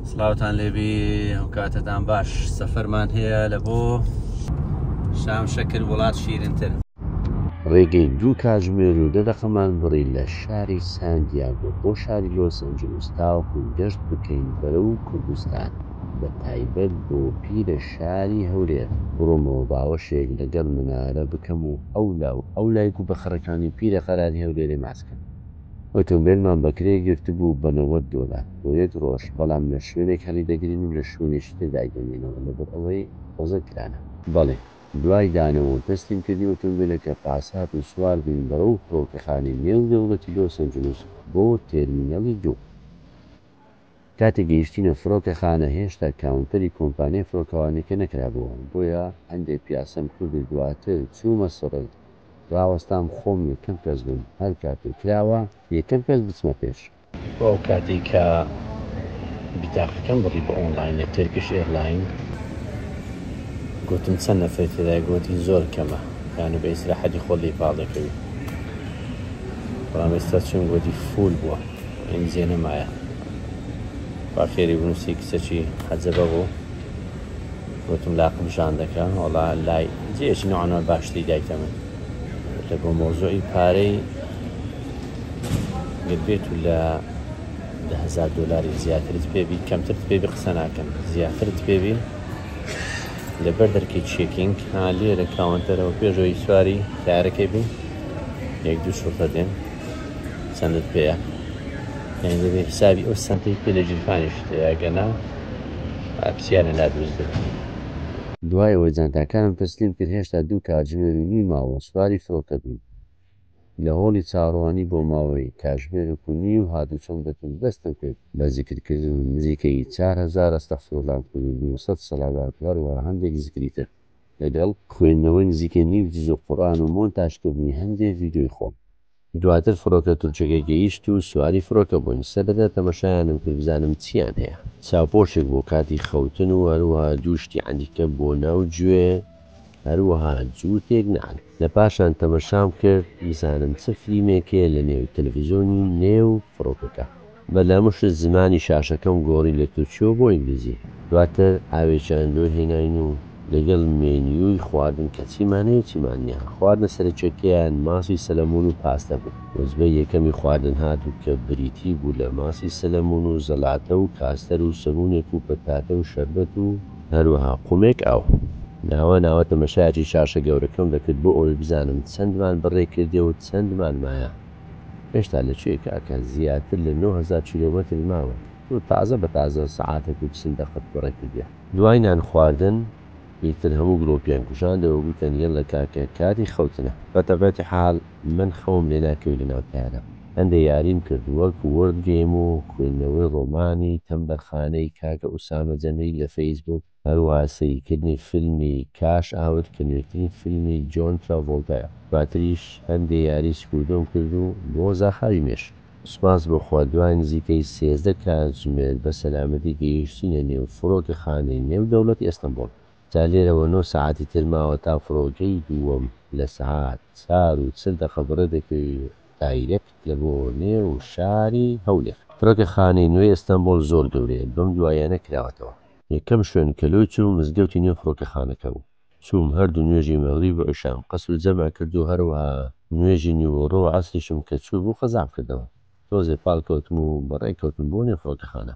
سڵاوتان لێبی ئەو کاتەتان باش سەفەرمان هەیە لە بۆ شام شەکر وڵات شیرنتر ڕێگەی دوو کاژمێر و دە دەقەمان بڕی لە شاری سانتیاگۆ بۆ شاری لۆس ئەنجلوس تاوەکو گەشت بکەین بەرەو کوردستان بە تایبەت بۆ پیرە شاری هەولێر بڕۆمەوە باوەشێک لەگەڵ منارە بکەم و ئەولا و ئەولای گووبەخڕەکانی پیرە قەراری هەولێرێ ماچ کەم. ئۆتۆمبێلمان بە کرێ گرتبوو بە نەوەد دۆلار بۆ یەک ڕۆژ، بەڵام لە شوێنێک هەڵیدەگرین و لە شوێنێکی تر دایدەنێنەوە لەبەر ئەوەی قۆزەک کرانە. بەڵێ، دوای دانەوە و تەسلیمکردنی ئۆتۆمبێلەکە، پاس هات و سوار بووین بەرەو فڕۆکەخانەی نێودەوڵەتی لۆس ئەنجلوس بۆ تێرمینەڵی دوو. کاتێک گەیشتینە فرۆکەخانە هێشتا کاونتەری کۆمپانیای فرۆکەوانیەکە نەکرابووە بۆیە هەندێ پیاسەم کرد و دواتر چوومە سڕێ راوەستام خۆم یەکەم کەس بم هەر کاتێک کراوە یەکەم کەس بچمە پێش. بۆ ئەو کاتەی کە بیتاقەکەم بڕی بە ئۆنڵاین لە تێرکش ئێرلاین گۆتم چەند نەفەری تێدایە گۆتی زۆر کەمە یانە بە ئیسراحەتی خۆت لێی پاڵ دەکەوی بەڵام ئێستا چووم گۆتی فوول بووە. ئەم زێنە مایە با فێری بنووسی کچەکی حەجەبە بوو وتم لاقم ژان دەکە وەڵا لای جێکی نوعانە باشتری دایتە من لە بۆ مۆزۆی پارەی گەربێت و لە دههزار دلاری زیاترت پێبی کەمترت پێبی قسە ناکەن زیاترت پێبی لەبەر دەرکی چێکینگ ها لێرە کاونتەرەوە پێشەوەی سواری تارەکەی بی یەک دوو شوڕتە دێن چەندت پێە یعنی دەبێ حسابی ئەو سەنتەی پێ لە جیرفانیش تێگەنا پرسیارە لا دروست دەبێت دوایەوە جانتاکانم تەسلیم کرد هێشتا دوو کاتژمێر و نیو ماوە سواری فڕۆکە بووین لە هۆڵی چاڕوانی بۆ ماوەی کاژمێرێک و نیو هاتوچۆم دەکرد دەستم کرد بە زیکر کردن و نزیکەی چار هەزار ئەستەغفراللەم کرد و دوو سەد سەلاوات و هەروەها هەندێک زیکری تر لەگەڵ خوێندنەوەی نزیکەی نیو جزء قورئان و مۆنتاژکردنی هەندێ ڤیدیۆی خۆم. دواتر فڕۆکە تورکەکە گەیشت و سواری فڕۆکە بووین، سەرەتا تەمەشایانم کرد بزانم چییان هەیە، چاوپۆشێک بۆ کاتی خەوتن و هەروەها دوو شتی عەنیکە بۆ ناو گوێ هەروەها جووتێک نەعل، لە پاشان تەمەشام کرد بزانم چ فلیمێک هەیە لە نێو تەلەفزیۆنی نێو فڕۆکەکە. بە دەمشت زمانی شاشەکەم گۆڕی لە تورکیەوە بۆ ئینگلیزی. دواتر ئاوێکیان لۆ هێناین و لەگەڵ مێنیوی خواردن کە چیمان هەیە چیمان نیە. خواردنە سەرەکیەکەیان ماسی سەلەمون و پاستە بوو. وزبەی یەکەمی خواردن هات و کە بریتی بوو لە ماسی سەلەمون و زەلاتە و کاستەر و سەمونێک و پەتاتە و شەربەت و. هەروەها قومێک ئاو. ناوە ناوە تەمەشایەکی شاشە گەورەکەم دەکرد بۆ ئەوەی بزانم چەندمان بڕێ کردیە و چەندمان مایە. هێشتا لە کوێی کاکە زیاتر لە نۆ هەزار کیلۆمەتر ماوە تۆ تازە بە تازە سەعاتەک و چل دەقەت بەڕێ کردیە. دوای نان خواردن ئیتر هەموو گڵۆپیان کوژاندەوە گوتن یەللە کاکە کاتی خەوتنە. بە تەبعەتی حال من خەوم لێ ناکەوێ لە ناو تەیارە هەندێ یاریم کرد وەک وۆرد گەیم و خوێندنەوەی ڕۆمانی تەمبەرخانەی کاکە ئوسامە جەمیل لە فەیس بووک، هەروەها سەیرکردنی فیلمی کاش ئاوت کە نوێترین فیلمی جۆن تراڤۆڵتایە دواتریش هەندێ یاری سکوردۆم کرد و بۆ زاخاوی مێشک. سوپاس بۆ خوا دوای نزیکەی سێزدە کاتژمێر بە سەلامەتی گەیشتینە نێو فڕۆکەخانەی نێو دەوڵەتی ئەستەمبۆڵ جا لێرەوە نۆ سەعاتی تر ماوە تا فڕۆکەی دووەم لە سەعات چار و چل دەقە بڕێ دەکەوی دایرێکت لە بۆ نێو شاری هەولێر. فڕۆکەخانەی نوێی ئەستەمبۆڵ زۆر گەورەیە بەم دواییانە کراوەتەوە. یەکەم شوێن کە لۆی چووم مزگەوتی نێو فڕۆکەخانەکە بوو. چووم هەردوو نوێژی مەغریب و عیشام قەسر و جەمع کرد و هەروەها نوێژی نیوەڕۆ و عەسریشم کە چووبوو قەزام کردەوە. تۆزێ پاڵ کەوتم و بەڕێ کەوتم بۆ نێو فڕۆکەخانە.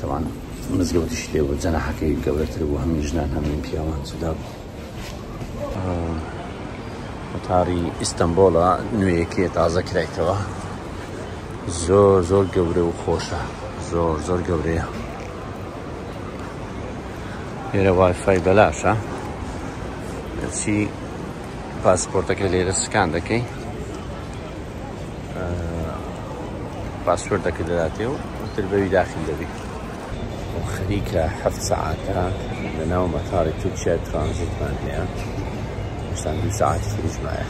تاوان مزگەوتیش لێ بوو جەناحەکەی گەورەتر بوو هەموو ژنان هەمووی پیاوان جودا بوو وتاری ئیستەمبۆڵە نوێیەکێ تازە کرایتەوە زۆر زۆر گەورە و خۆشە زۆر زۆر گەورەیە لێرە وایفای بەلاشە چی پاسپۆرتەکە لێرە سکان دەکەی پاسپۆرتەکە دەداتێ و تر بەوی داخل دەبی و خەریکە هەفت سەعاتە لە ناو مەتاری تورکیا ترانزیتمان هەیە شتان دوو ساعت تریشمایە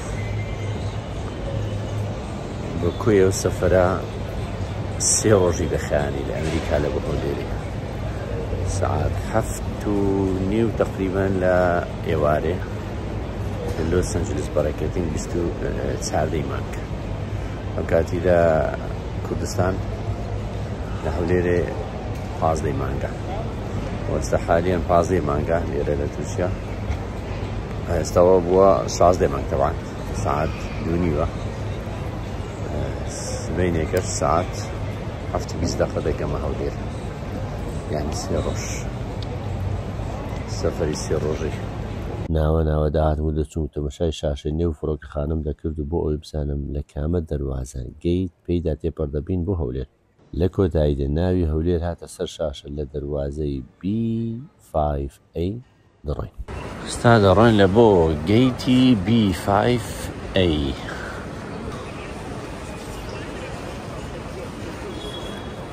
بە کوێ و سەفرە سێ ڕۆژی دەخیانی لە ئەمریکا لە بەهۆ لێری سعات هەفت و نیو تقریبان لە ئێوارێ لە لۆس ئەنجلس بەڕێکردین بیست و چاردەی مانگ ئەم کاتیدا کوردستان لە هەولێرێ پازدەی مانگە وەستا حالیان پازدەی مانگە لێرە لە تورکیا ئێستاەوە بووە شازدەی مانگ تەوان سعات دوونیوە سبینێکە سعات هەفت بیست دەقە دەگەمە هەولێر یعنی سێ ڕۆژ سەفری سێ ڕۆژێک ناوە ناوە دەهاتم و دەچووم و تەمەشای شاشەی نێو فڕۆکەخانەم دەکرد و بۆ ئەوەی بزانم لە کامە دەروازە، گەیت، پێیدا تێپەڕ دەبین بۆ هەولێر. لە کۆتاییدا ناوی هەولێر هاتە سەر شاشە لە دەروازەی، بی فایڤ ئەی، دەڕۆین. ئێستا دەڕۆین لە بۆ گەیتی، بی فایڤ ئەی.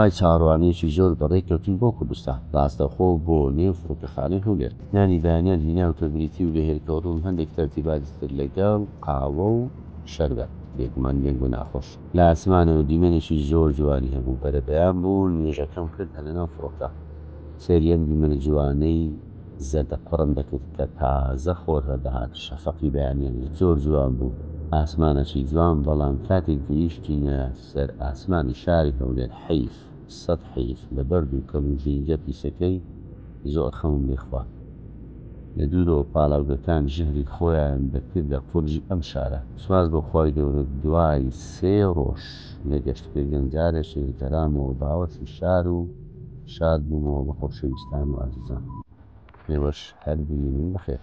دوای چاوەڕوانییەکی زۆر بەڕێ کەوتن بۆ کوردستان، ڕاستەوخۆ بۆ نێو فڕۆکەخانەی هەولێر. نانی بەیانیان هیناو کە بریتی و لە هێلکە و ڕۆن هەندێک تەرتیباتی تر لەگەڵ قاوە و شەربەت، بێگومان دەنگ و ناخۆش. لە ئاسمانەوە دیمەنێکی زۆر جوانی هەبوو، بەرەبەیان بوو، نوێژەکەم کرد هەر لەناو فڕۆکە سەیری ئەم دیمەنە جوانەی. زەردە قوڕم دەکرد کە تازە خۆر هەردەهات، شەفەقی بەیانیان زۆر جوان بوو، ئاسمانەکی جوان، بەڵام کاتێک گەیشتینە سەر ئاسمانی شاری هەولێر حەیف سەد حەیف لە بەرد و کەل و ژینگە پیسەکەی زۆر خەمم لێ خوارد لە دوورەوە پاڵاوگەکان ژەهری خۆیان دەکردە قورگی ئەم شارە سوپاس بۆ خوای گەورە دوای سێ ڕۆژ لە گەشتکردن جارێکی ترامەوە باوەشی شار و شاد بوومەوە بە خۆشەویستان و ئازیزان. ئێوەش هەر بمینن بەخێر.